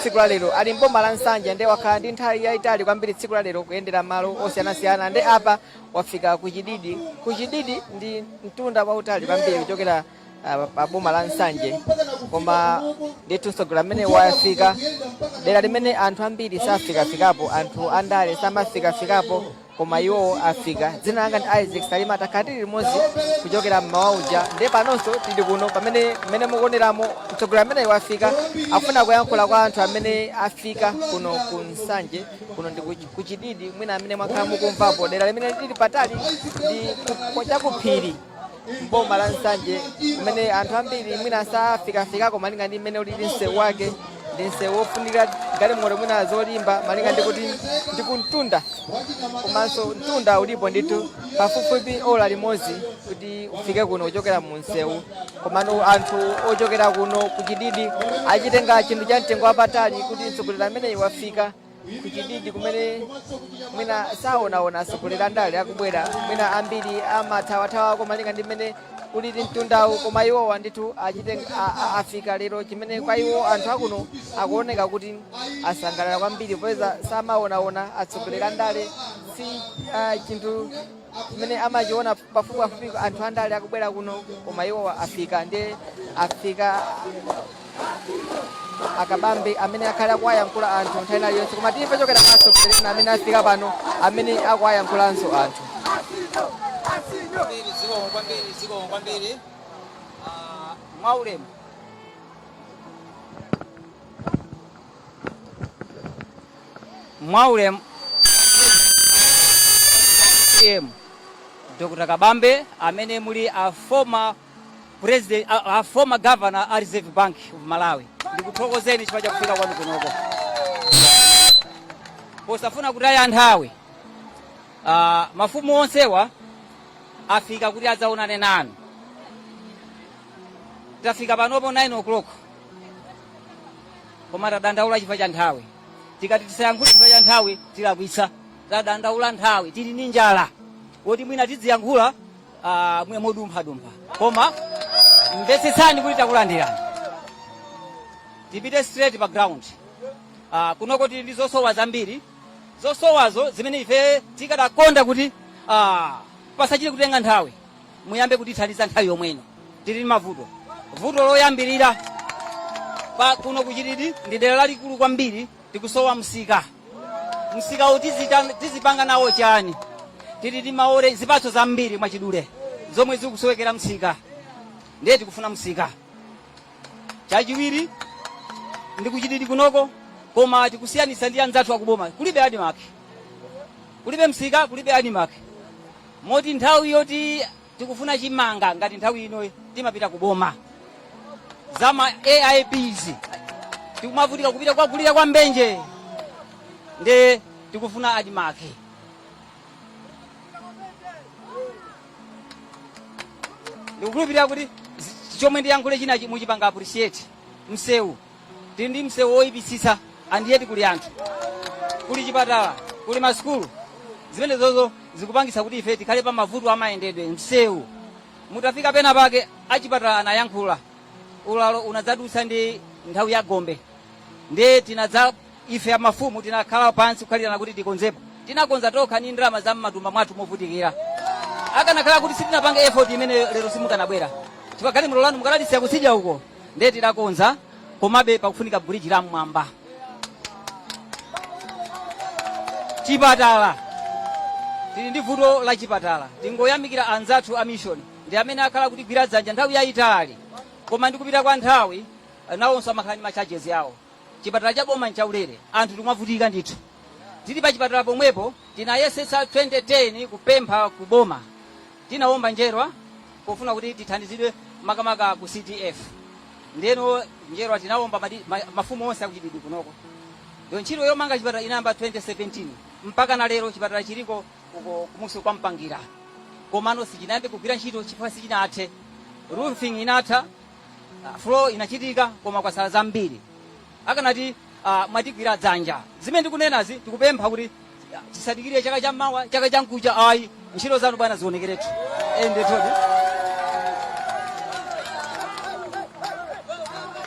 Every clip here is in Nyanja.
tsiku la lero ali mboma la nsanje nde wakhala ndi nthawi yayitali kwambiri tsiku la lero kuyendera malo osiyanasiyana nde apa wafika ku chididi ku chididi ndi mtunda wautali kwambiri kuchokera ah, pa boma la nsanje koma ndithu mtsogoleri amene wafika dera limene anthu ambiri safikafikapo anthu andale samafikafikapo koma iwo afika dzina langa ndi isaac salima takhala tili limodzi kuchokera mmawa uja ndiye panonso tili kuno pamene mmene mukuoneramo mtsogoleri amene wafika akufuna kuyankhula kwa anthu amene afika kuno ku nsanje kuno ndi kuch- kuchididi mwina amene mwakhala mukumvapo dera limene lili patali ndi ku- chakuphiri m'boma la nsanje kumene anthu ambiri mwina safikafikako malinga ndi mmene ulili msewu wake ndi msewu wofunika galimoto mwina zolimba malinga ndikuti ndi kumtunda komanso mtunda ulipo ndithu pafupifupi ola limodzi kuti ufike kuno kuchokera mu msewu komano anthu ochokera kuno kuchididi achitenga chinthu cha mtengo wapatali kuti mtsogoleri ameneyu wafika kuchididi kumene mwina saonaona atsogoleri andale akubwera mwina ambiri amathawathawa komalinga ndi mmene ulili mtundawu koma iwowa ndithu achite a- a- afika lero chimene kwa iwo anthu akuno akuoneka kuti asangalala kwambiri popeza samaonaona atsogoleri andale si ah, chinthu chimene amachiona pafupipafupi anthu andale akubwera kuno koma iwowa afika nde afika akabambe amene akhale akuwayankhula anthu nthawi ina iliyonse koma timve kuchokera kwa atsogoleri ena amene afika pano amene akuwayankhulanso anthu kwambiri zikomo kwambiri zikomo kwambiri Ah, mwaulemu mwaulemu em dr kabambe amene muli a former president a, a former governor a reserve bank of malawi ndikuthokozeni chifukwa cha kufika kwanu kunoko posafuna kutaya nthawi uh, mafumu onsewa afika kuti adzaonane nanu tafika panopo 9 o'clock koma tadandaula chifukwa cha nthawi tikati tisayankhule chifukwa cha nthawi tilakwitsa tadandaula nthawi tili ndi njala moti mwina tidziyankhula ah, mwa modumphadumpha koma mvetsetsani kuti takulandirani tipite straight pa ground Ah, kunoko tili ndi zosowa zambiri zosowazo zimene ife tikadakonda kuti ah, pasachite kutenga nthawi muyambe kutithandiza nthawi yomweno tili ndi mavuto vuto loyambirira pa kuno kuchididi ndi dera lalikulu kwambiri tikusowa msika msika uwu tizita- tizipanga nawo chani tili ndi maore zipatso zambiri mwachidule zomwe zikusowekera msika ndiye tikufuna msika chachiwiri ndi kuchididi kunoko koma tikusiyanitsa ndi anzathu akuboma kulibe ADMARC kulibe msika kulibe ADMARC moti nthawi yoti tikufuna chimanga ngati nthawi ino timapita ku boma zama AIPs tikumavutika kupita kwa kulira kwa mbenje nde tikufuna ADMARC ndikukhulupirira kuti zi- chomwe ndiyankhule china chi- muchipanga appreciate msewu tili ndi msewu woyipitsitsa and yet kuli anthu kuli chipatala kuli masukulu zimenezozo zikupangitsa kuti ife tikhale pa mavuto amayendedwe msewu mutafika pena pake achipatala anayankhula ulalo unadzadutsa ndi nthawi ya gombe ndiye tinadza Ife a mafumu tinakhala pansi kukhalirana kuti tikonzepo. Tinakonza tokha ndi ndalama za m'matumba mwathu movutikira. Akanakhala kuti sitinapange effort imeneyo lero simukanabwera. Chifukwa galimoto lanu mukanalisiya kutsidya uko. Ndiye tidakonza komabe pakufunika bridge la m'mwamba. Chipatala. Tili ndi vuto la chipatala. Tingoyamikira anzathu a mission ndi amene akhala kutigwira dzanja nthawi yayitali. Koma ndikupita kwa nthawi nawonso amakhala ndi ma charges awo. Chipatala cha boma nchaulere, anthu tikumavutika ndithu. Tili pachipatala pomwepo, tinayesetsa 2010 kupempha ku boma. Tinaomba njerwa pofuna kuti tithandizidwe makamaka ku CDF. Ndeno njerwa tinaomba madi- ma- mafumu onse akuchididi kunoko. Yo ntchito yomanga chipatala inayamba 2017 mpaka na lero chipatala chiliko uko kumusi kwa Mpangira. Komano sichinayambe kugwira ntchito chifukwa sichinathe. Roofing inatha, Ah, floor inachitika koma kwasala zambiri. Akanati ah, mwatigwira dzanja. Zimene ndikunenazi tikupempha kuti ah, tisadikire chaka cha mawa, chaka cha mkucha ayi. Ntchito zanu bwana zionekeretu. Ende todi.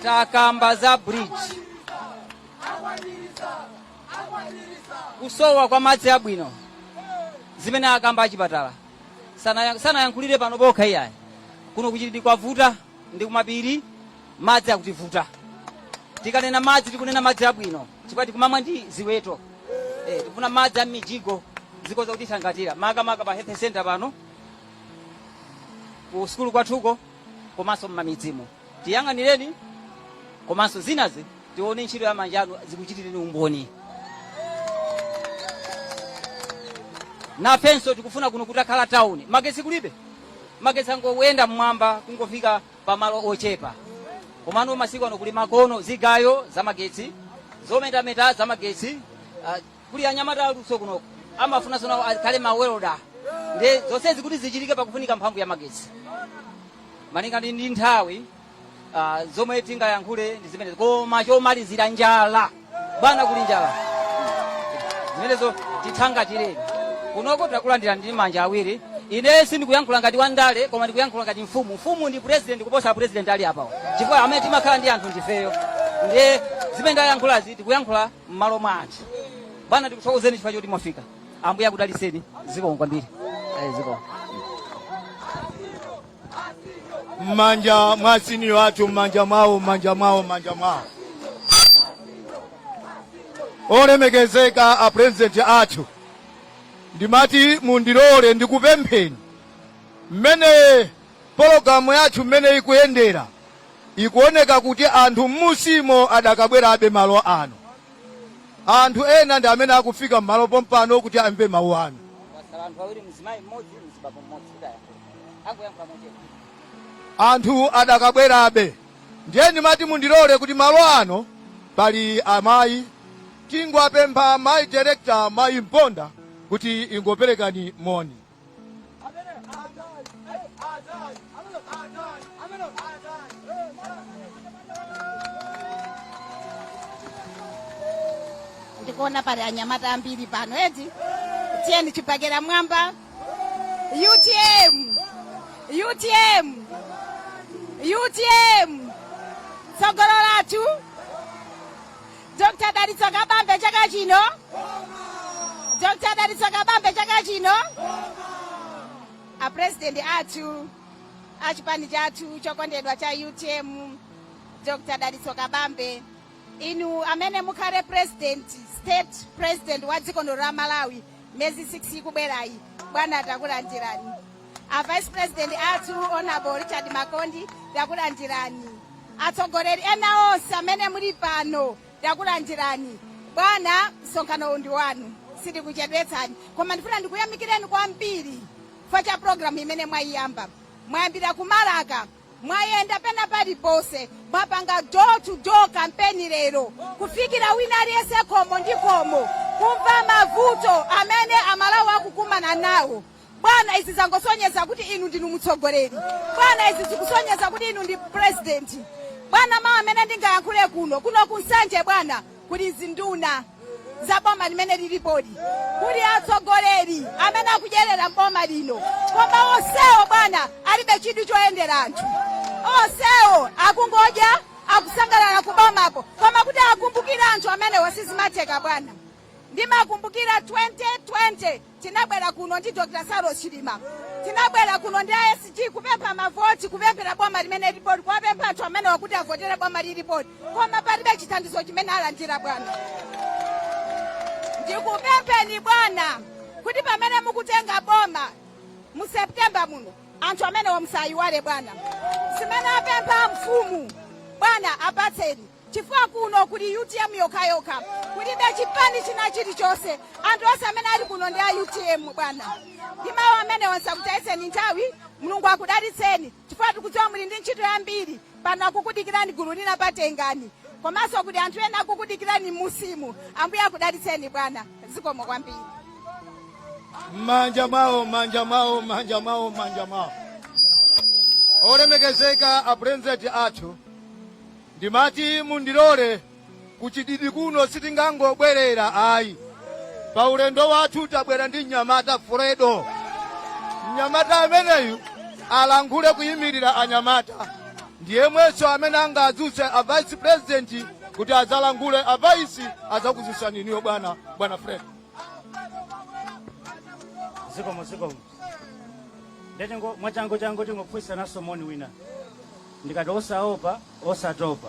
Takamba za bridge. Kusowa kwa madzi abwino. Zimene akamba achipatala. Sana- sanayankhulire pano pokha iyayi kuno kuchididi kwavuta ndi kumapiri madzi akutivuta tikanena madzi tikunena madzi abwino chifukwa tikumamwa ndi ziweto eh, tikufuna madzi a m'mijigo zikhoza kutithangatira makamaka pa health center pano ku sukulu kwathuko komanso m'mamidzimo tiyang'anireni komanso zinazi tione ntchito ya manja anu zikuchitireni umboni nafenso tikufuna kuno kutakhala tawuni magetsi kulibe magetsi akungoyenda mmwamba kungofika pamalo ochepa komano masiku ano kuli zamakono zigayo zamagetsi zometameta zamagetsi ah, kuli anyamata aluso kunoko amafunanso nawo akhale mawelda nde zonsezi kuti zichitike pakufunika mphamvu ya magetsi malinga ndi ndi nthawi ah, zomwe tingayankhule ndi zimenezo koma chomalizira njala bwana kuli njala zimenezo tithangatireni kunoko tinakulandira ndi manja awiri ine sindikuyankhula ngati wandale koma ndikuyankhula ngati mfumu mfumu ndi president kuposa mapresident ali apawo chifukwa amene timakhala ndi anthu ndifeyo ndiye zimene ndayankhulazi tikuyankhula m'malo mwa anthu bwana ndikuthokozeni chifukwa choti mwafika ambuye akudaliseni zikomo kwambiri Eh, zikomo mmanja mwa siniyo athu mmanja mwawo mmanja mwawo mmanja mwawo olemekezeka a president athu ndimati mundilole ndikupempheni mmene pologalamu yathu mmene ikuyendera Ikuoneka kuti anthu m'munsimo adakabwerabe malo ano. Anthu ena ndi amene akufika m'malo pompano kuti amve mawu anu. Kwatsala anthu awiri mzimayi mmodzi mzibambo mmodzi kuti ayankhule. Angoyankhula mochedwa. Anthu adakabwerabe ndiye ndimati mundilole kuti malo ano pali amayi tingwapempha mayi director mayi Mponda kuti ingoperekani moni. ndikuona pali anyamata ambiri pano eti tiyeni chibakera m'mwamba utm utm utm tsogolo lathu Dr. Dalitso Kabambe chaka chino. Dr. Dalitso Kabambe chaka chino. A president athu a chipani chathu chokondedwa cha UTM Dr. Dalitso Kabambe inu amene mukhale president state president wa dziko lino la Malawi miyezi 6 ikubwerayi bwana takulandirani a vice president athu honorable richard makondi takulandirani atsogoleri ena onse amene muli pano takulandirani bwana msonkhano uno ndi wanu sitikuchedwetsani koma ndifuna ndikuyamikireni kwambiri chifukwa cha programu imene mwayiyamba mwayambira ku Balaka Mwayenda pena paliponse, mwapanga door to door campaign lero, kufikira wina aliyense khomo ndi khomo, kumva mavuto amene amalawi akukumana nawo. Bwana, izi zangosonyeza kuti inu ndinu mtsogoleri. Bwana, izi zikusonyeza kuti inu ndi president. Bwana, mawu amene ndingayankhule kuno kuno ku Nsanje bwana, kuli zinduna za boma limene lilipoli, kuli atsogoleri amene akudyerera boma lino, koma onsewo bwana alibe chidwi choyendera anthu. Onsewo akungodya akusangalala kubomapo, koma kuti akumbukira anthu amenewa sizimatheka bwana. Ndimakumbukira 2020 Tinabwera kuno ndi Dr Saulos Chilima, tinabwera kuno ndi a SG kupempha mavoti, kupemphera boma limene lilipoli, kuwapempha anthu amenewa kuti avotere boma lilipoli, koma palibe chithandizo chimene alandira bwana. Ndikupempheni bwana kuti pamene mukutenga boma mu September muno, anthu amenewa musawayiwale bwana, zimene apempha mfumu bwana apatseni. chifukwa kuno kuli utm yokhayokha kulibe chipani china chilichonse anthu onse amene ali kuno ndi a utm bwana ndi mawu amenewa ndisakutayitseni nthawi mulungu akudalitseni chifukwa tikudziwa muli ndi ntchito yambiri pano akukudikirani gulu lina patengani komanso kuti anthu ena akukudikirani musimu ambuye akudalitseni bwana zikomo kwambiri manja mwawo olemekezeka a president athu Ndimati mundilore kuchididi kuno sitingangobwelera ayi pa ulendo wathu tabwera ndi mnyamata Fredo mnyamata ameneyu alankhule kuyimilira anyamata ndiyemwenso amene angadzutse a vice president kuti adzalankhule a vice adzakudzutsani inuyo bwana bwana Fredo zikomo zikomo ndiye mwachangu changu tingopfuisa naso moni wina Ndikati osaopa osatopa,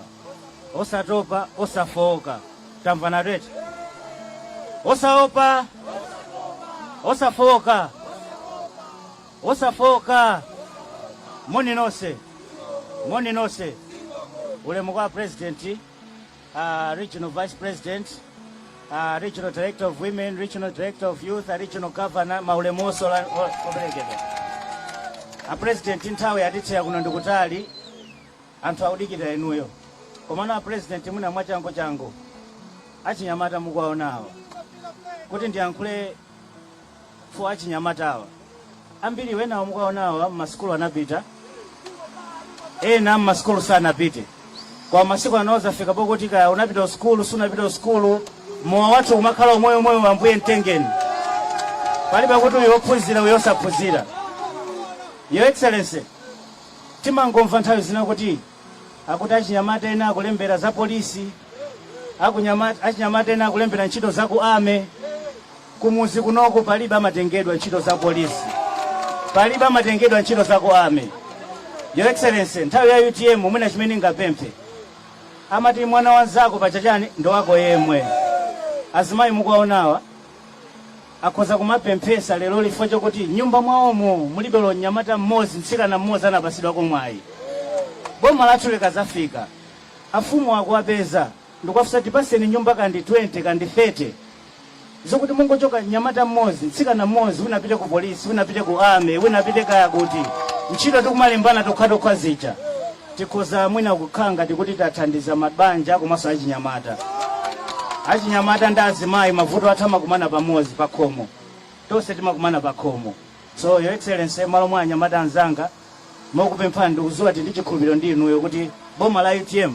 osatopa osafooka, tamvanatu eti? Osaopa osafooka, osafooka. Moni nonse, moni nonse. Ulemu kwa President. uh, regional vice president uh, regional director of women regional director of youth uh, regional governor maulemu onse ola- o- operekedwa a president nthawi yatisiya kuno ndikutali anthu akudikira inuyo komano a president mwina mwachangu changu achinyamata mukuwaonawo kuti ndiyankhule chifukwa achinyamatawa ambiri enawa mukuwaonawa mmasukulu anapita ena mmasukulu sanapite kwa masiku anowa zafika pokuti kaya unapita kusukulu sunapita kusukulu mowa wathu umakhala umoyo umoyo wa ambuye mtengeni palibe kuti uyo ophunzira uyo osaphunzira your excellency timangomva nthawi zina kuti Akuti achinyamata ena akulembera za polisi, achinyamata ena akulembera ntchito za ku army. Kumuzi kunoku palibe amatengedwa ntchito za polisi, palibe amatengedwa ntchito za ku army. Your Excellency, nthawi ya UTM mwina chimene ndingapemphe amati mwana wanzako sapachani ndi wako yemwe azimayi mukuwaonawa akhoza kumapemphesa lero chifukwa chokuti nyumba mwaomo mulibe olo mnyamata mmodzi mtsikana mmodzi anapasidwako mwayi boma lathu likazafika afumu akuwapeza ndikuwafunsa tipaseni nyumba kandi 20 kandi 30 zokuti mungotchoka mnyamata mmodzi mtsikana mmodzi wina apite ku polisi wina apite ku army wina apite kaya kuti ntchito tikumalembana tokhatokha zija Tikhoza mwina kukhala ngati kuti tathandiza mabanja komanso achinyamata. Achinyamata ndi azimayi mavuto athu amakumana pamodzi pakhomo. Tonse timakumana pakhomo. So Your Excellency, malo mwa anyamata anzanga, mokupemphani ndikudziwa ndi chikhulupiriro ndi inuyo kuti boma la utm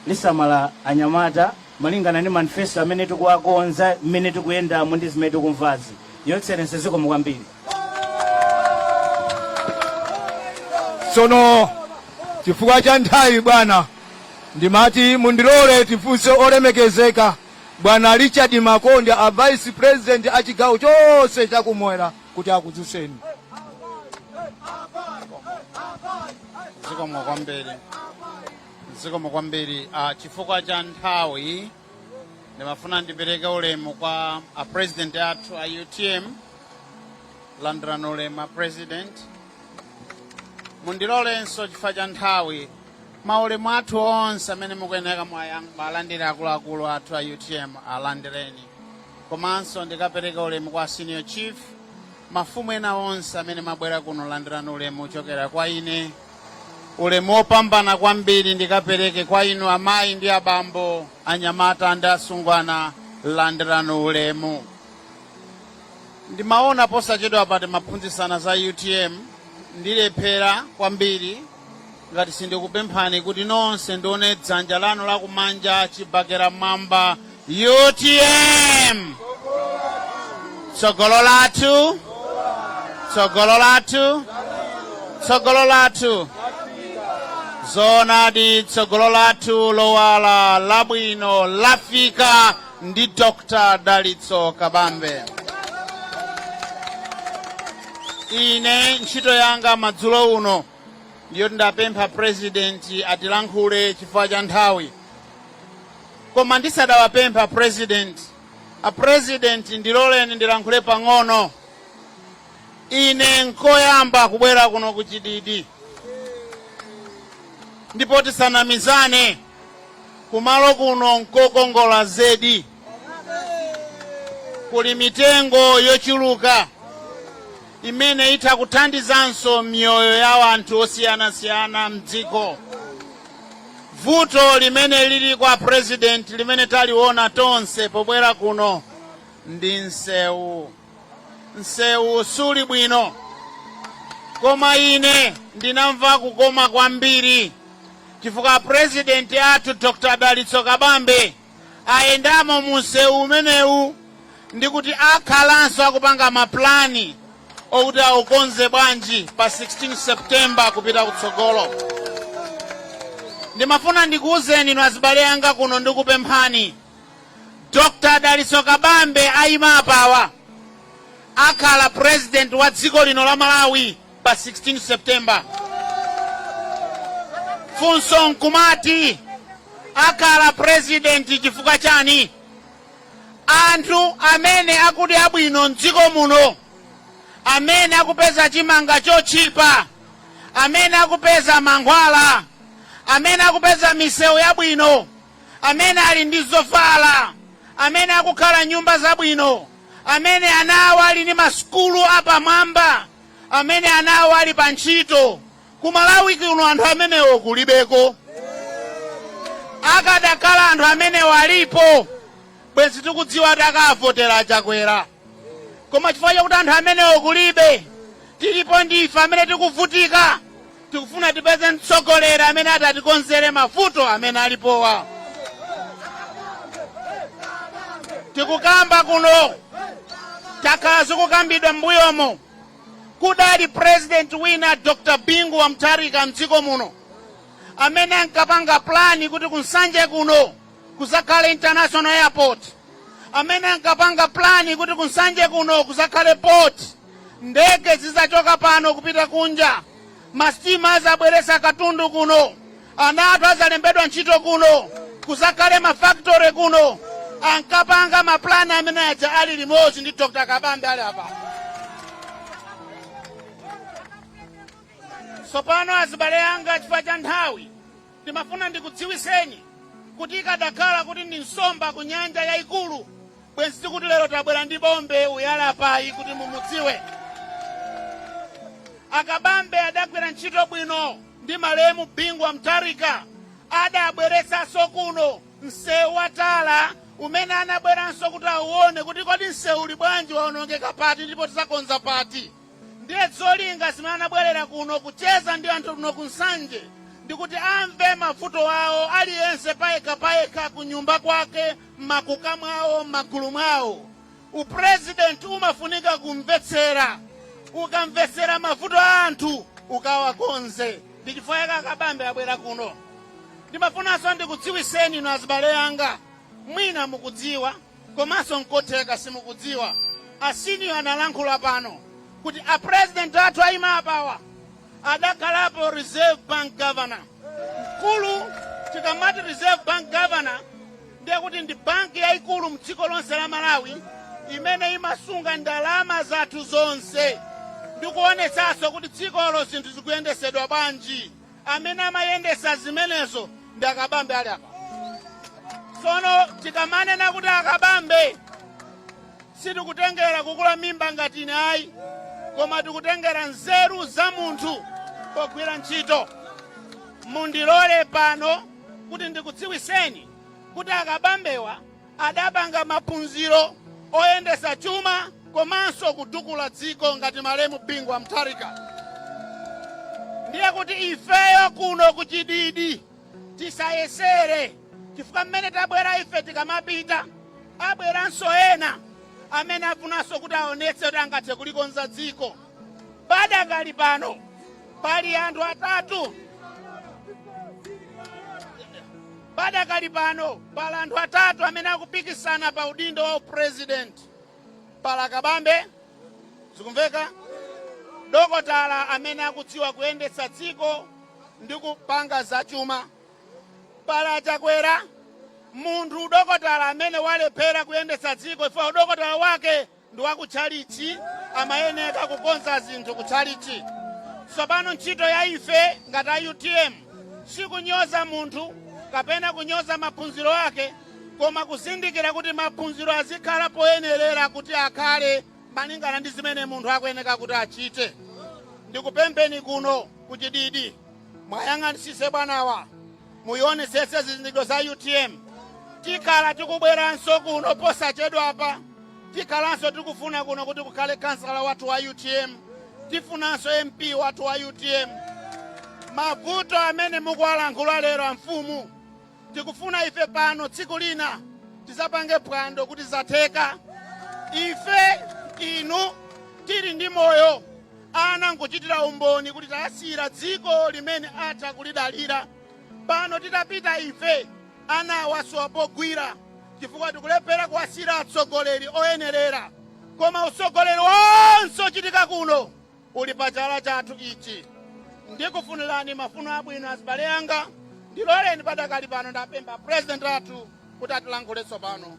lisamala anyamata malingana ndi manifesto amene tikuwakonza, mmene tikuyendamo ndi zimene tikumvazi. Your Excellency, zikomo kwambiri. tsono chifukwa cha nthawi bwana ndimati mundilole tifunse olemekezeka bwana richard makondi a vice president a chigawo chonse chakumwera kuti akudzutseni zikomo kwambiri ah, chifukwa cha nthawi ndimafuna ndipereke ulemu kwa a president athu a utm landirani ulemu a president mundilolenso chifukwa cha nthawi maulemu athu onse amene mukuyenera muwalandire akuluakulu athu a utm alandireni komanso ndikapereke ulemu kwa senior chief mafumu ena onse amene mwabwera kuno landirani ulemu wochokera kwa ine ulemu wopambana kwambiri ndikapereke kwa inu amayi ndi abambo anyamata ndi asungwana landirani ulemu Ndimaona posachedwapa timaphunzitsana za utm ndilephera kwambiri ngati sindikupemphani kuti nonse ndione dzanja lanu lakumanja chibakera mmwamba utm tsogolo lathu tsogolo lathu tsogolo lathu zoonadi tsogolo lathu lowala labwino lafika ndi Dr. Dalitso Kabambe. Ine ntchito yanga madzulo uno ndiyoti ndapempha purezidenti atilankhule chifukwa cha nthawi koma ndisadawapemphe purezidenti apurezidenti ndiloleni ndilankhule pang'ono ine nkoyamba kubwera kuno ku Chididi ndipo tisanamizane Kumalo kuno nkokongola zedi. Kuli mitengo yochuluka imene itha kuthandizanso miyoyo ya anthu osiyanasiyana mdziko. Vuto limene lili a president limene taliona tonse pobwera kuno ndi nsewu. nsewu suli bwino koma ine ndinamva kukoma kwambiri chifukwa purezidenti athu dr dalitso kabambe ayendamo mu nsewu umenewu ndikuti akhalanso akupanga mapulani okuti aukonze bwanji pa 16 septemba kupita kutsogolo ndimafuna ndikuwuzeni inu azibale anga kuno ndikupemphani Dr Dalitso Kabambe ayima apawa akhala president wa dziko lino la Malawi pa 16 September. Funso nkumati akhala president chifukwa chani? Anthu amene akudya bwino mdziko muno, amene akupeza chimanga chotchipa, amene akupeza mankhwala, amene akupeza misewu yabwino amene ali ndi zovala, amene akukhala nyumba zabwino, amene ana awo ali ndi masukulu apamwamba, amene ana awo ali pa ntchito. Ku Malawi kuno anthu amenewo kulibeko. Akadakhala anthu amenewo alipo, bwenzi tikudziwa kuti akavotera a Chakwera. Koma chifukwa chakuti anthu amenewo kulibe, tilipo ndife amene tikuvutika Tikufuna tipeze mtsogoleri amene atatikonzere mavuto amene alipowa. Tikukamba kuno zakhala zikukambidwa m'mbuyomo kudali president wina Dr. Bingu wa Mutharika mdziko muno amene ankapanga plani kuti ku Nsanje kuno kuzakhale international airport, amene ankapanga plani kuti ku Nsanje kuno kuzakhale port Ndege zidzachoka pano kupita kunja, masitima adzabweretsa katundu kuno, ana athu adzalembedwa ntchito kuno, kudzakhale mafakitore kuno. Ankapanga mapulani amene aja ali limodzi ndi Dr. Kabambe ali apa. Tsopano azibale anga chifukwa cha nthawi Ndimafuna ndikudziwitseni kuti ikadakhala kuti ndi nsomba ku nyanja yaikulu, bwenzi tikuti lero tabwera ndi bombe uyu ali apayi kuti mumudziwe. A Kabambe adagwira ntchito bwino ndi malemu Bingu wa Mutharika, adabweretsanso kuno msewu wa tala umene anabweranso kuti auone kuti kodi msewu uli bwanji, waonongeka pati ndipo tidzakonza pati. Ndiye zolinga zimene anabwerera kuno kucheza ndi anthu kuno ku Nsanje ndikuti amve mavuto awo aliyense payekha payekha kunyumba kwake, m'makuka mwawo, m'magulu mwawo. U president umafunika kumvetsera. Ukamvetsera mavuto a anthu ukawakonze. Ndi chifukwa chake a Kabambe abwera kuno. Ndimafunanso ndikudziwiseni inu azibale anga, mwina mukudziwa Komanso nkotheka simukudziwa a senior analankhula pano kuti a president athu aima apawa adakhalapo reserve bank governor. Mkulu tikamati reserve bank governor ndiye kuti ndi banki yaikulu mdziko lonse la Malawi imene imasunga ndalama zathu zonse ndikuonetsanso kuti dzikolo zinthu zikuyendesedwa bwanji. amene amayendesa zimenezo ndi a Kabambe ali apa tsono tikamanena kuti a Kabambe sitikutengera kukula mimba ngati ine ayi koma tikutengera nzeru za munthu pogwira ntchito mundilole pano kuti ndikudziwiseni kuti a Kabambewa Adapanga maphunziro oyendesa chuma komanso kutukula dziko ngati malemu Bingu wa Mutharika. Ndiye kuti ifeyo kuno ku Chididi tisayesere chifukwa mmene tabwera ife tikamapita abweranso ena amene afunanso kuti aonetse kuti angathe kulikonza dziko. Padakali pano pali anthu atatu. Padakali pano pali anthu atatu amene akupikisana pa udindo wa upresidenti. Pali a Kabambe, zikumveka, dokotala amene akudziwa kuyendetsa dziko ndi kupanga zachuma. Pali a Chakwera, munthu dokotala amene walephera kuyendetsa dziko chifukwa udokotala wake ndi wa kutchalitchi amayeneka kukonza zinthu kutchalitchi. Tsopano, ntchito ya ife ngati a UTM sikunyoza munthu kapena kunyoza maphunziro ake koma kuzindikira kuti maphunziro azikhala poyenerera kuti akhale malingana ndi zimene munthu akuyeneka kuti achite. Ndikupempheni kuno ku Chididi muwayang'anisise bwanawa. muyionesetse zizindikiro za utm tikhala tikubweranso kuno posachedwapa tikhalanso tikufuna kuno kuti kukhale khansala wathu wa utm tifunanso mp wathu wa utm mavuto amene mukuwalankhula lero amfumu tikufuna ife pano tsiku lina tizapange phwando kuti zatheka ife inu tili ndi moyo ana nkuchitira umboni kuti tawasiyira dziko limene atha kulidalira pano titapita ife ana awa asowa pogwira chifukwa tikulephera kuwasiyira atsogoleri oyenerera koma utsogoleri wonse ochitika kuno uli pa chala chathu ichi ndikufunirani mafuno abwino azibale anga ndiloleni padakali pano ndapempha purezidenti athu kuti atilankhule tsopano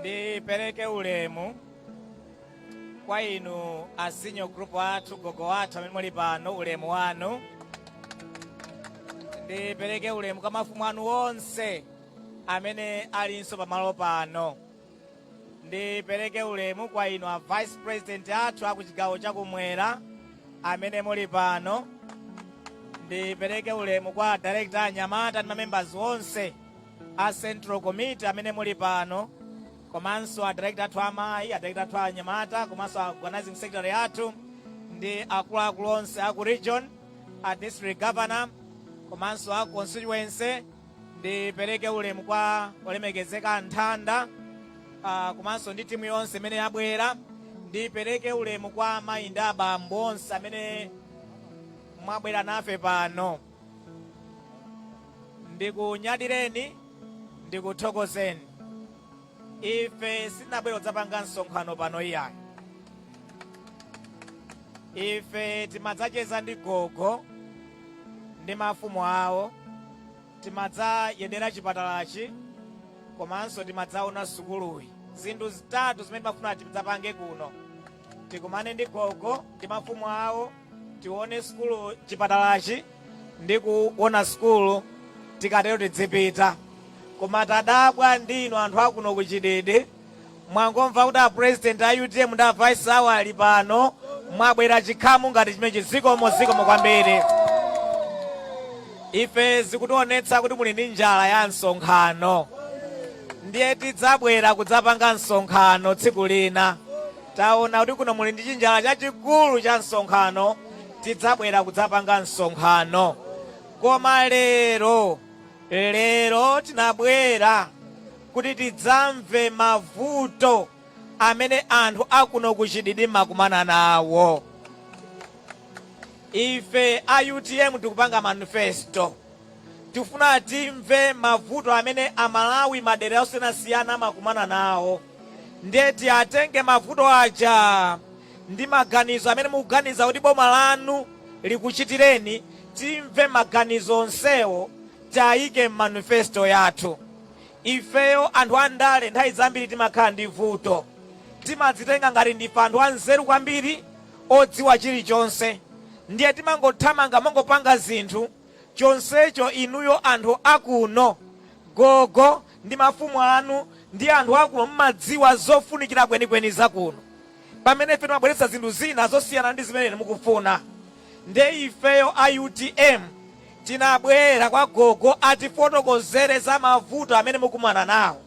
ndipereke ulemu kwa inu a senior group athu gogo athu amene muli pano ulemu wanu ndipereke ulemu kwa mafumu athu onse amene alinso pamalo pano Ndipereke ulemu kwa inu a Vice President athu a ku chigawo cha kumwera amene muli pano. Ndipereke ulemu kwa a Director a anyamata ndi mamembers onse a Central Committee amene muli pano komanso a Director athu amayi, a Director athu anyamata komanso a Organizing Secretary athu ndi akuluakulu onse a ku region, a District Governor komanso a constituency Ndipereke ulemu kwa olemekezeka Nthanda uh, komanso ndi timu yonse imene yabwera. Ndipereke ulemu kwa amayi ndi abambo onse amene mwabwera nafe pano. Ndikunyadireni, ndikuthokozeni. Ife sitinabwere kudzapanga msonkhano pano iyayi. Ife timadzacheza ndi gogo ndi mafumu awo, timadzayendera chipatalachi komanso timadzaona sukuluyi. Zinthu zitatu zimene timafuna tidzapange kuno, tikumane ndi gogo ndi mafumu awo. tione sukulu chipatalachi ndi kuona sukulu tikatero tidzipita koma tadabwa ndi inu anthu akuno ku chididi mwangomva kuti apresident a utm ndi avice awo ali pano mwabwera chikhamu ngati chimenechi zikomo zikomo kwambiri ife zikutionetsa kuti muli ndi njala ya msonkhano ndiye tidzabwera kudzapanga msonkhano tsiku lina Taona kuti kuno muli ndi chinjala chachikulu cha msonkhano, tidzabwera kudzapanga msonkhano. Koma lero, lero tinabwera kuti tidzamve mavuto amene anthu akuno ku Chididi amakumana nawo. Ife a UTM tikupanga manifesto. Tifuna timve mavuto amene amalawi madera osiyanasiyana amakumana nawo ndiye tiatenge mavuto aja ndi maganizo amene mukuganiza kuti boma lanu likuchitireni timve maganizo onsewo tiayike mmanifesto yathu ifeyo anthu andale nthawi zambiri timakhala ndi vuto timadzitenga ngati ndife anthu anzeru kwambiri odziwa chilichonse ndiye timangothamanga kumangopanga zinthu chonsecho inuyo anthu a kuno, gogo ndi mafumu anu ndi anthu a kuno mumadziwa zofunikira kwenikweni za kuno, pamene ife timabweretsa zinthu zina zosiyana ndi zimene inu mukufuna. Nde ifeyo a utm tinabwera kwa gogo atifotokozere za mavuto amene mukumana nawo.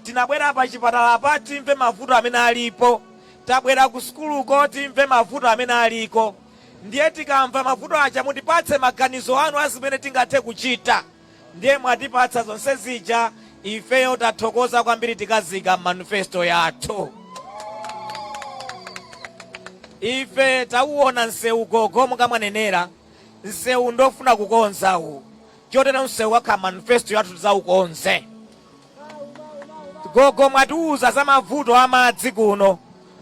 Tinabwera pachipatalapa timve mavuto amene alipo. Tabwera kusukuluko timve mavuto amene aliko. Ndiye tikamva mavuto aja mutipatse maganizo anu a zimene tingathe kuchita. Ndiye mwatipatsa zonse zija, ifeyo tathokoza kwambiri tikaziika m'manifesto yathu. Ife tauona msewu gogo monga mwanenera, msewu ndofuna kukonza uwu. Chotero msewu ukhala m'manifesto yathu tidzaukonze. Gogo mwatiuza za mavuto a madzi kuno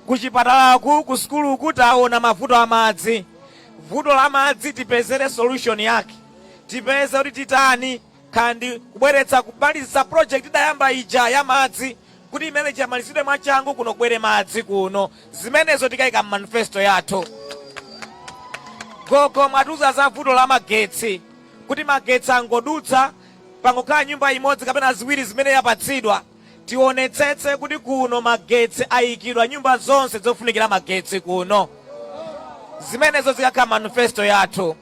kuchipatalaku, kusukuluku taona mavuto a madzi. Vuto la madzi tipezere solution yake, tipeze kuti titani kaya ndi kubweretsa kumalizitsa project idayamba ija ya madzi kuti imene ija imalizidwe mwachangu kuno kubwere madzi kuno. Zimenezo tikayika m'manifesto yathu. Gogo mwatiuza za vuto la magetsi kuti magetsi angodutsa Pangokhala nyumba imodzi kapena ziwiri zimene yapatsidwa, tionetsetse kuti kuno magetsi ayikidwa nyumba zonse zofunikira magetsi kuno. Zimenezo zikakhala m'manifesto yathu.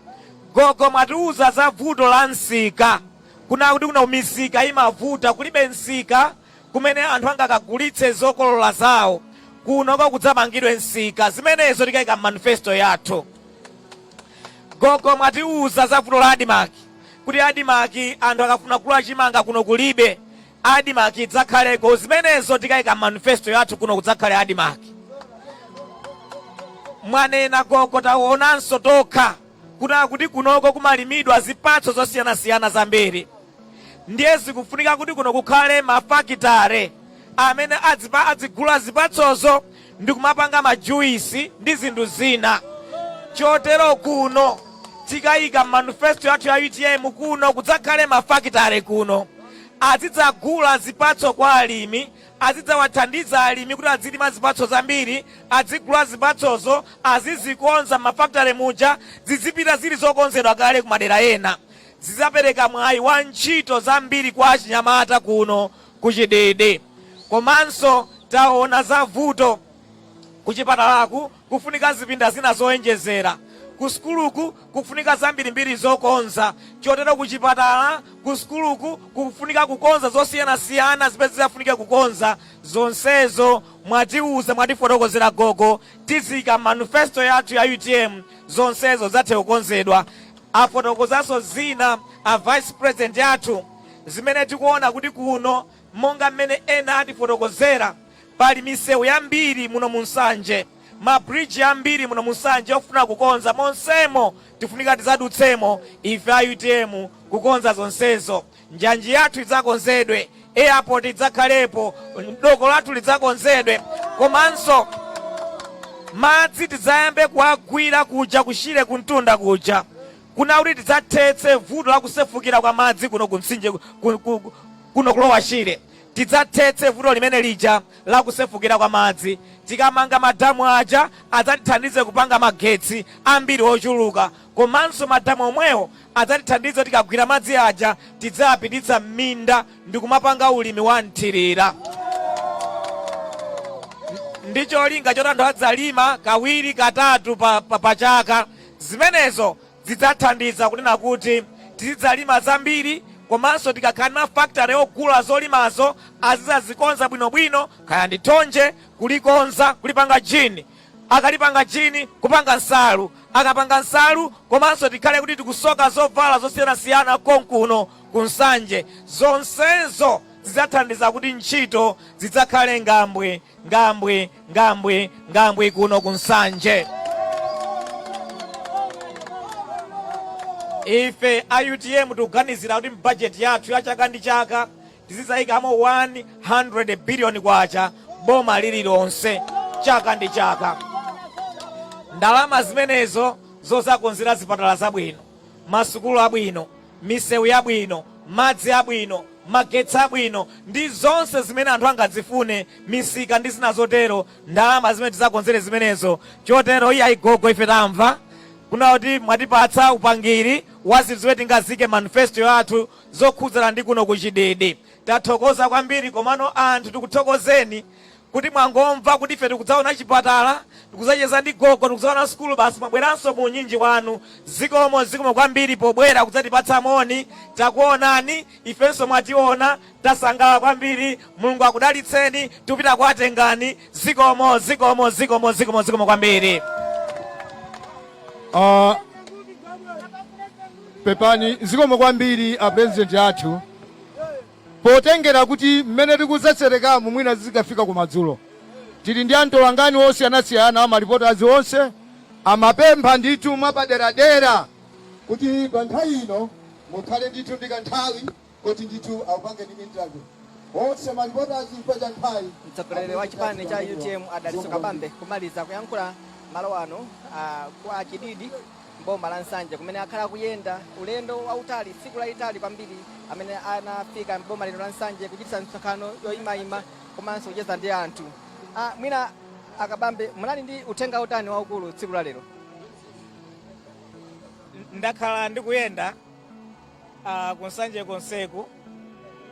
Gogo mwatiuza za vuto la msika, kunena kuti kuno misika imavuta, kulibe msika kumene anthu angakagulitse zokolola zawo. Kunoko kudzamangidwe msika. Zimenezo tikaika m'manifesto yathu. Gogo mwatiuza za vuto la Admarc, kuti admarc anthu akafuna kugula chimanga kuno kulibe, admarc idzakhaleko, zimenezo tikaika mmanifesto yathu kuno kudzakhale admarc. Mwanena gogo taonanso tokha kunena kuti kunoko kumalimidwa zipatso zosiyanasiyana zambiri ndiye zikufunika kuti kuno kukhale mafakitare amene adzipa adzigula zipatsozo ndi kumapanga ma juice ndi zinthu zina chotero kuno tikayika m'manifesto yathu ya utm kuno kudzakhale mafakitale kuno azidzagula zipatso kwa alimi azidzawathandiza alimi kuti azilima zipatso zambiri azigula zipatsozo azizikonza m'mafakitale muja zizipita zili zokonzedwa kale kumadera ena zidzapereka mwayi wa ntchito zambiri kwa achinyamata kuno ku Chididi komanso taona za vuto kuchipatalaku kufunika zipinda zina zoenjezera, kusukuluku kufunika zambirimbiri zokonza chotero kuchipatala, kusukuluku kufunika kukonza zosiyanasiyana zimene zidzafunike kukonza. Zonsezo mwatiuza, mwatifotokozera gogo, tiziika m'manifesto yathu ya utm zonsezo zidzathe kukonzedwa. Afotokozanso zina a vice president athu. Zimene tikuona kuti kuno monga mmene ena atifotokozera pali misewu yambiri muno mu Nsanje, ma bridge ambiri muno mu Nsanje ofuna kukonza monsemo tifunika tidzadutsemo ife a utm kukonza zonsezo. Njanji yathu idzakonzedwe, airport idzakhalepo, doko lathu lidzakonzedwe komanso madzi tidzayambe kuwagwira kuja ku Shire kumtunda kuja. kunena kuti tidzathetse vuto la kusefukira kwa madzi kuno ku mtsinje ku- ku- ku- kuno ku Lower Shire. Tidzathetse vuto limene lija la kusefukira kwa madzi. Tikamanga madamu aja adzatithandize kupanga magetsi ambiri ochuluka. Komanso madamu omwewo adzatithandize tikagwira madzi aja tidzayapititsa m'minda ndi kumapanga ulimi wa mthirira. ndi cholinga choti anthu adzalima kawiri katatu pa chaka Zimenezo zidzathandiza kunena kuti tizidzalima zambiri komanso tikakhala ndi mafakitale ogula zolimazo azidzazikonza bwinobwino kaya ndi thonje kulikonza kulipanga jini, akalipanga jini kupanga nsalu, akapanga nsalu komanso tikhale kuti tikusoka zovala zosiyanasiyana konkuno ku Nsanje. Zonsezo zidzathandiza kuti ntchito zidzakhale ngambwe, ngambwe. ngambwi ngambwi kuno ku nsanje ife a utm tikuganizira kuti mbajeti yathu ya chaka ndi chaka tizizayikamo 100 biliyoni kwacha boma lililonse chaka ndi chaka ndalama zimenezo zozakonzera zipatala zabwino masukulu abwino, misewu yabwino, madzi abwino, magetsi abwino, ndi zonse zimene anthu angadzifune, misika ndi zina zotero, ndalama zimene tidzakonzere zimenezo. Chotero iye ayi gogo, ife tamva kunena kuti mwatipatsa upangiri wa zinthu zimene tingaziike m'manifesto yathu zokhudzana ndi kuno ku Chididi. Tathokoza kwambiri, komano anthu tikuthokozeni kuti mwangomva kuti ife tikudzaona chipatala, tikudzacheza ndi gogo, tikudzaona sukulu, basi mwabweranso mu unyinji wanu. Zikomo, zikomo kwambiri pobwera kudzatipatsa moni. Takuonani, ifenso mwationa, tasangalala kwambiri. Mulungu akudalitseni, tikupita kwa Tengani. Zikomo, zikomo, zikomo, zikomo, zikomo kwambiri. Ah, pepani zikomo kwambiri a president athu Potengera kuti mmene tikutsetserekamu mwina zidzikafika kumadzulo, tili ndi amtolankhani osiyanasiyana ma reporter onse, amapempha ndithu mwapaderadera kuti pa nthawi ino mukhale ndithu ndi kanthawi koti ndithu akupangeni interview onse ma reporter chifukwa cha nthawi Mtsogoleri wa chipani cha UTM a Dalitso Kabambe kumaliza kuyankhula malo ano a kwa Chididi m'boma la Nsanje kumene akhala akuyenda ulendo wautali tsiku lalitali kwambiri amene anafika m'boma lino la Nsanje kuchititsa misonkhano yoyimayima komanso kucheza ndi anthu. Ah, mwina a Kabambe munali ndi uthenga utani waukulu tsiku la lero? ndakhala ndikuyenda uh, ku Nsanje konseku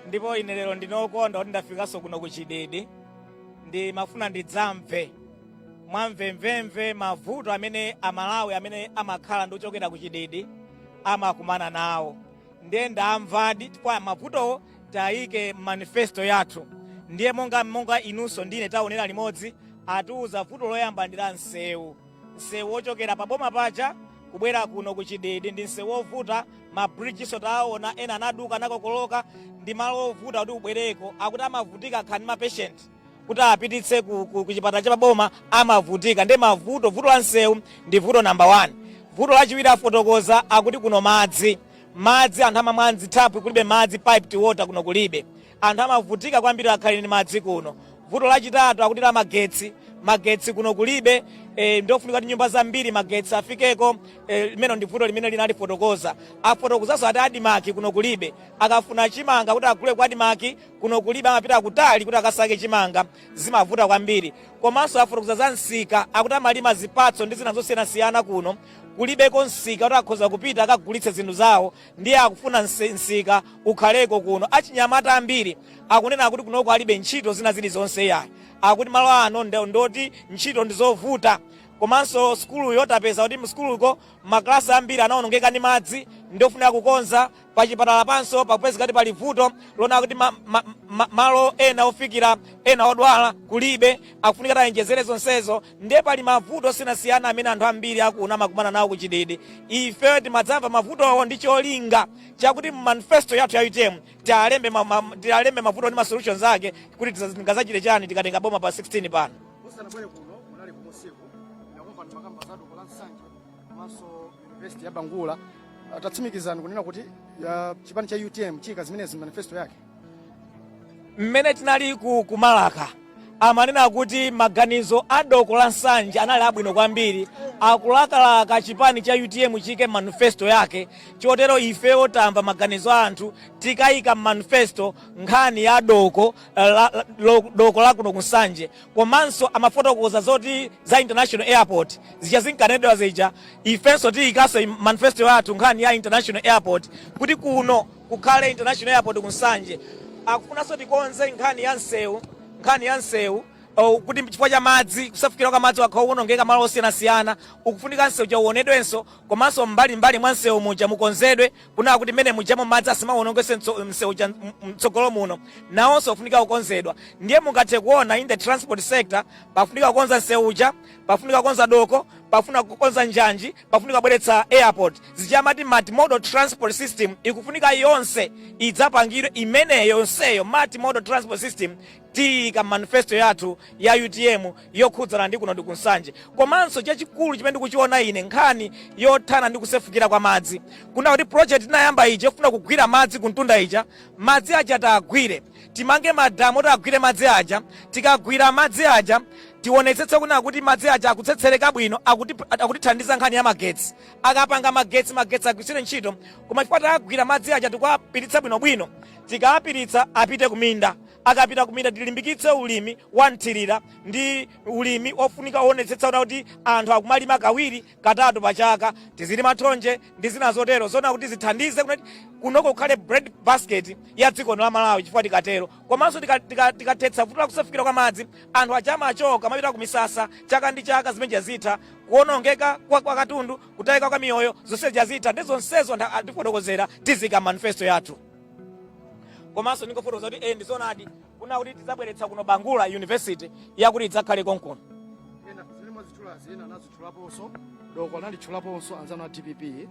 ndipo ine lero ndine okondwa kuti ndafikanso kuno ku Chididi ndimafuna ndidzamve mwamvemvemve mavuto amene Amalawi amene amakhala ndi ochokera ku Chididi amakumana nawo ndiye ndawamvadi chifukwa mavutowo taika m'manifesto yathu ndiye monga monga inunso ndine taonera limodzi atiuza vuto loyamba ndi la msewu msewu wochokera pa boma paja kubwera kuno ku Chididi ndi msewu wovuta ma bridge nso taona ena anaduka anakokoloka ndi malo ovuta kuti ubwereko akuti amavutika ngakhale ndi mapeshenti kuti apititse ku, ku, ku chipatala cha paboma amavutika ndi mavuto vuto la msewu ndi vuto namba 1 vuto lachiwiri afotokoza akuti kuno madzi madzi anthu amamwa mzithaphwi kulibe madzi piped water kuno kulibe anthu amavutika kwambiri nkhani ya madzi kuno vuto lachitatu akuti la magetsi magetsi kuno kulibe e, ndofunika kuti nyumba zambiri magetsi afikeko e, limenelo ndi vuto limene analifotokoza afotokozanso ati ADMARC kuno kulibe akafuna chimanga kuti agule ku ADMARC kuno kulibe amapita kutali kuti akasake chimanga, zimavuta kwambiri. Komanso afotokoza za msika, akuti amalima zipatso ndi zina zosiyanasiyana kuno, kulibeko msika kuti akhoza kupita akagulitse zinthu zawo ndiye akufuna mse- msika ukhaleko kuno. Achinyamata ambiri akunena kuti kunoko alibe ntchito zina zilizonse yayi, akuti malo ano ndo- ndoti ntchito ndi zovuta komanso sukuluyo tapeza kuti msukuluko maklasi ambiri anaonongeka ndi madzi ndiofunika kukonza Pachipatalapanso pakupezeka kuti pali vuto lonena kuti ma, ma, ma, malo ena ofikira ena odwala kulibe, akufunika kuti ayenjezere zonsezo. Ndiye pali mavuto osiyanasiyana amene anthu ambiri akuno amakumana nawo ku Chididi. Ifeyo timadzamva mavutowo ndi cholinga chakuti mu manifesto yathu ya UTM tialembe ma, ma, tialembe mavuto ndi ma solutions ake kuti tingazachite chani tikatenga boma pa 16 pano. komanso university ya bangula tatsimikizana kunena kuti chipani cha utm chiika zimenezi m'manifesto yake mmene tinali ku Malaka amanena kuti maganizo a doko la nsanje anali abwino kwambiri akulakalaka chipani cha utm chiike m'manifesto yake chotero ifeyo tamva maganizo a anthu tikayika m'manifesto nkhani ya doko la, la, lo- doko lakuno ku nsanje komanso amafotokoza zoti za international airport zija zinkanenedwa zija ifenso tiyikanso m'manifesto yathu nkhani ya international airport kuti kuno kukhale international airport ku nsanje akufunanso tikonze nkhani ya msewu nkhani ya msewu oh, kuti chifukwa cha madzi kusefukira kwa madzi wakhala ukuwonongeka malo osiyanasiyana ukufunika msewu uja uonedwenso komanso mbalimbali mwa msewu muja mukonzedwe Kunena kuti mmene mujamo madzi asamawonongenso msewu uja mtsogolo muno nawonso ufunika kukonzedwa. Ndiye mungathe kuona in the transport sector pafunika kukonza msewu uja, pafunika kukonza doko, pafunika kukonza njanji, pafunika kubweretsa airport. Zija amati multimodal transport system ikufunika yonse idzapangidwe imeneyo yonseyo multimodal transport system. Tiyika m'manifesto yathu ya utm yokhudzana ndi kuno ndi ku Nsanje komanso chachikulu chimene ndikuchiona ine nkhani yothana ndi kusefukira kwa madzi kunena kuti project tinayamba ija yofuna kugwira madzi kumtunda ija madzi aja tiagwire timange madamu oti agwire madzi aja tikagwira madzi aja tionetsetse kunena kuti madzi aja akutsetsereka bwino akuti- akutithandiza nkhani ya magetsi akapanga magetsi agwitsire ntchito koma chifukwa tiagwira madzi aja tikuwapititsa bwinobwino tikawapititsa apite kuminda Akapita kuminda tilimbikitse ulimi wa mthirira ndi ulimi ofunika owonetsetsa kunena kuti anthu akumalima kawiri, katatu pa chaka. Tizilima thonje ndi zina zotero zonena kuti zithandize kunoti kunoko kukhale bread basket ya dziko lino la Malawi chifukwa tikatero komanso tikathetsa vuto la kusefukira kwa madzi anthu aja amachoka kumapita ku misasa chaka ndi chaka zimene zija zitha. Kuonongeka kwa kwa katundu, kutayika kwa miyoyo zonse zija zitha. Nde zonsezo anthu atifotokozera tiziyika mu manifesto yathu. komanso ndingofotokoza kuti eh ndizonadi kunena kuti tidzabweretsa kuno bangula university yakuti idzakhale konkuno ena zimene mwazitchulazi ena anazitchulaponso doko analitchulaponso anzanu a dpp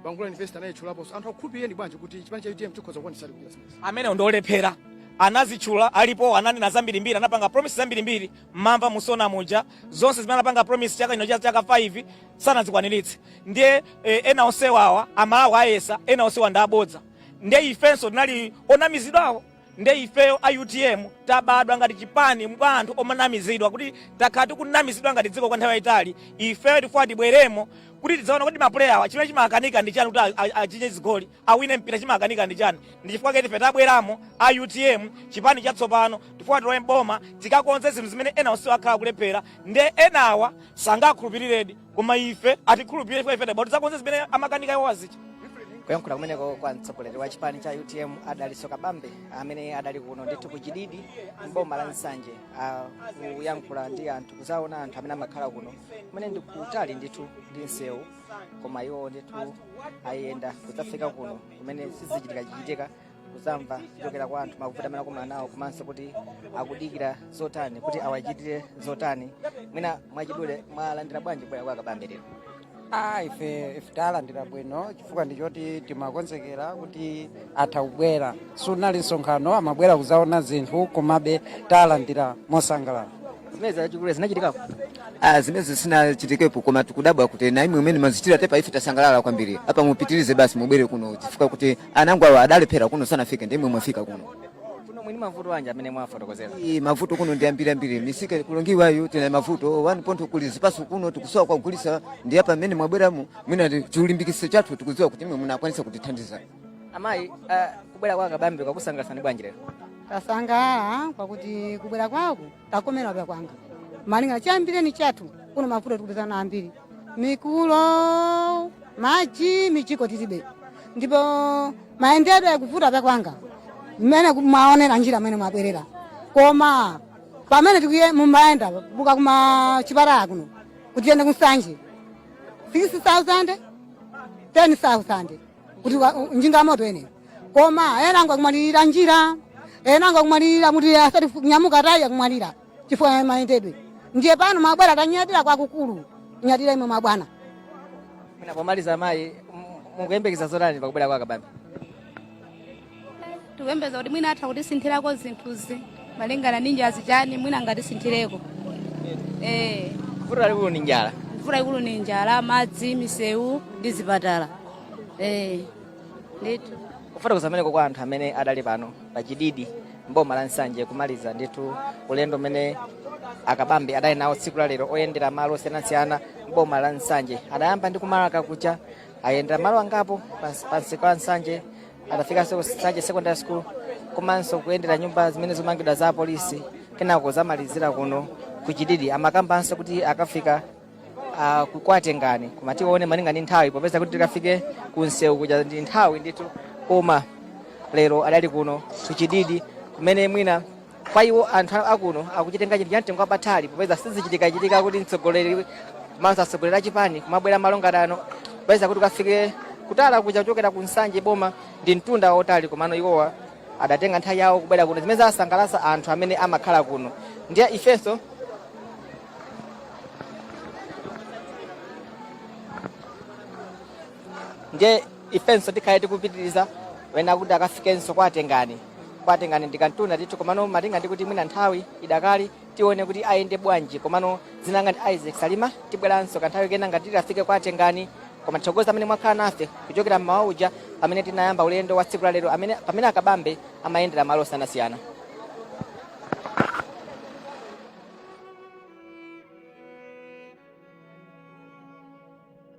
bangula university anayitchulaponso anthu akukhulupiriyeni bwanji kuti chipani cha utm chikhoza kukwaniritsa kuchita zimenezi amenewo ndiolephera anazitchula alipo ananena zambirimbiri anapanga promise zambirimbiri mmamva msonkhano muja zonse zimene anapanga promise chaka ino zaka 5 sanazikwaniritse ndiye eh, ena onsewa awa amalawi ayesa ena onsewa ndi abodza ndiye ifenso tinali onamizidwawo ndiye ifeyo a utm tabadwa ngati chipani mwa anthu omanamizidwa kuti takhala tikunamizidwa ngati dziko kwa nthawi yayitali ifeyo tifuna tibweremo kuti tidzaone kuti mapuleya awa chimene chimakanika ndi chani kuti a- a- achinye zigoli awine mpira chimakanika ndi chani ndi chifukwa chake ife tabweramo a utm chipani chatsopano tifuna tilowe mboma tikakonze zinthu zimene ena onsewo akhala kulephera nde enawa sangakhulupiriredi koma ife atikhulupirire chifukwa ife tabwa tizakonze zimene amakanika iwo azicha kuyankhula kumeneko kwa mtsogoleri wa chipani cha utm a dalitso kabambe amene adali kuno ndithu ku chididi mboma la nsanje ah, kuyankhula ndi anthu kuzaona anthu amene amakhala kuno kumene ndi kutali ndithu ndi msewu koma iwo ndithu ayenda kudzafika kuno kumene sizichitikachitika kuzamva kuchokera kwa anthu mavuto amene akukumana nawo komanso kuti akudikira zotani kuti awachitire zotani mwina mwachidule mwalandira bwanji kubwera kwa kabambe lero Ah, ife ife talandira bwino chifukwa ndichoti timakonzekera kuti atha kubwera siunali msonkhano amabwera kuzaona zinthu komabe talandira mosangalala zimene zachikulu zinachitikapo Ah, zimenezi sizinachitikepo koma tikudabwa kuti na imwe imene mwachitira tepa ife tasangalala kwambiri apa mupitirize basi mubwere kuno chifukwa kuti anango awa adalephera kuno sanafike ndi imwe mwafika kuno kuno mwina mavuto anji amene mwafotokozera Iyi mavuto kuno ndi ambiri ambiri misika kulibe tayu tina mavuto 1 point kuli zipaso kuno tikusowa kogulisa ndi apa mmene mwabweramo mwina ndi chilimbikiso chathu tikudziwa kuti imwe munakwanisa kutithandiza amayi ah, kubwera kwa kabambe kwakusangalasani bwanji lero tasangalala kwakuti kubwera kwaku takomera pyakwana malinga na chiyambireni chathu kuno mavuto tikupezana nawo ambiri mikulo maji mijigo tilibe ndipo mayendedwe akuvuta pyakwana mmene ku- mwaonera njira mmene mwabwerera koma pamene tikuye mumayenda buka kuma chipatala kuno kuti tiyende kunsanje 6000 10000 kuti wa- u- njinga ya moto ene koma enango akumwalirira njira enango akumwalirira kuti asati fu- nyamuka tayu akumwalira chifukwa ya mayendedwe ndiye pano mabwana tanyadira kwakukulu nyadira imwe mabwana Mwina pomaliza mayi m- mukuyembekeza zotani pakubwera kwa kabambe tikuyembekeza kuti mwina atha kutisinthirako zinthuzi malingana ndi njalazi chani mwina angatisinthireko eh vuto lalikulu ndi njala vuto lalikulu ni njala madzi misewu ndi zipatala eh ndithu kufotokoza kumeneko kwa anthu amene adali pano pa chididi mboma la nsanje kumaliza ndithu ulendo umene akabambe adali nawo tsiku la lero oyendera malo osiyanasiyana mboma la nsanje adayamba ndi kumarka kukucha ayendera malo angapo pas- pansi ku nsanje adafikanso ku nsanje secondary school komanso kuyendera nyumba zimene zikumangidwa za apolisi kenako adzamalizira kuno ku chididi amakambanso kuti akafika ah, ku- kwa tengani koma tione malinga ndi nthawi popeza kuti tikafike ku msewu kuja ndi nthawi ndithu koma lero adali kuno ku chididi kumene mwina Kwa iwo anthu a kuno akuchitenga chinthu cha mtengo wapatali popeza sizichitikachitika kuti mtsogoleri komanso atsogoleri a chipani kumabwera malo ngati ano popeza kuti ukafike kutala kuja kuchokera ku Nsanje boma ndi mtunda wautali komano iwowa adatenga nthawi yawo kubwera kuno zimene zasangalatsa anthu amene amakhala kuno ndiye ifenso ndiye ifenso tikhale tikupitiriza wanena kuti akafikenso kwa tengani kwa tengani ndi kamtunda ndithu komano malinga ndi kuti mwina nthawi idakali tione kuti ayende bwanji komano dzina langa ndi isaac salima tibweranso kanthawi kena ngati titafike kwa tengani koma tithokoza amene mwakhala nafe kuchokera mmawa uja pamene tinayamba ulendo wa tsiku la lero pamene a kabambe amayendera malo osiyanasiyana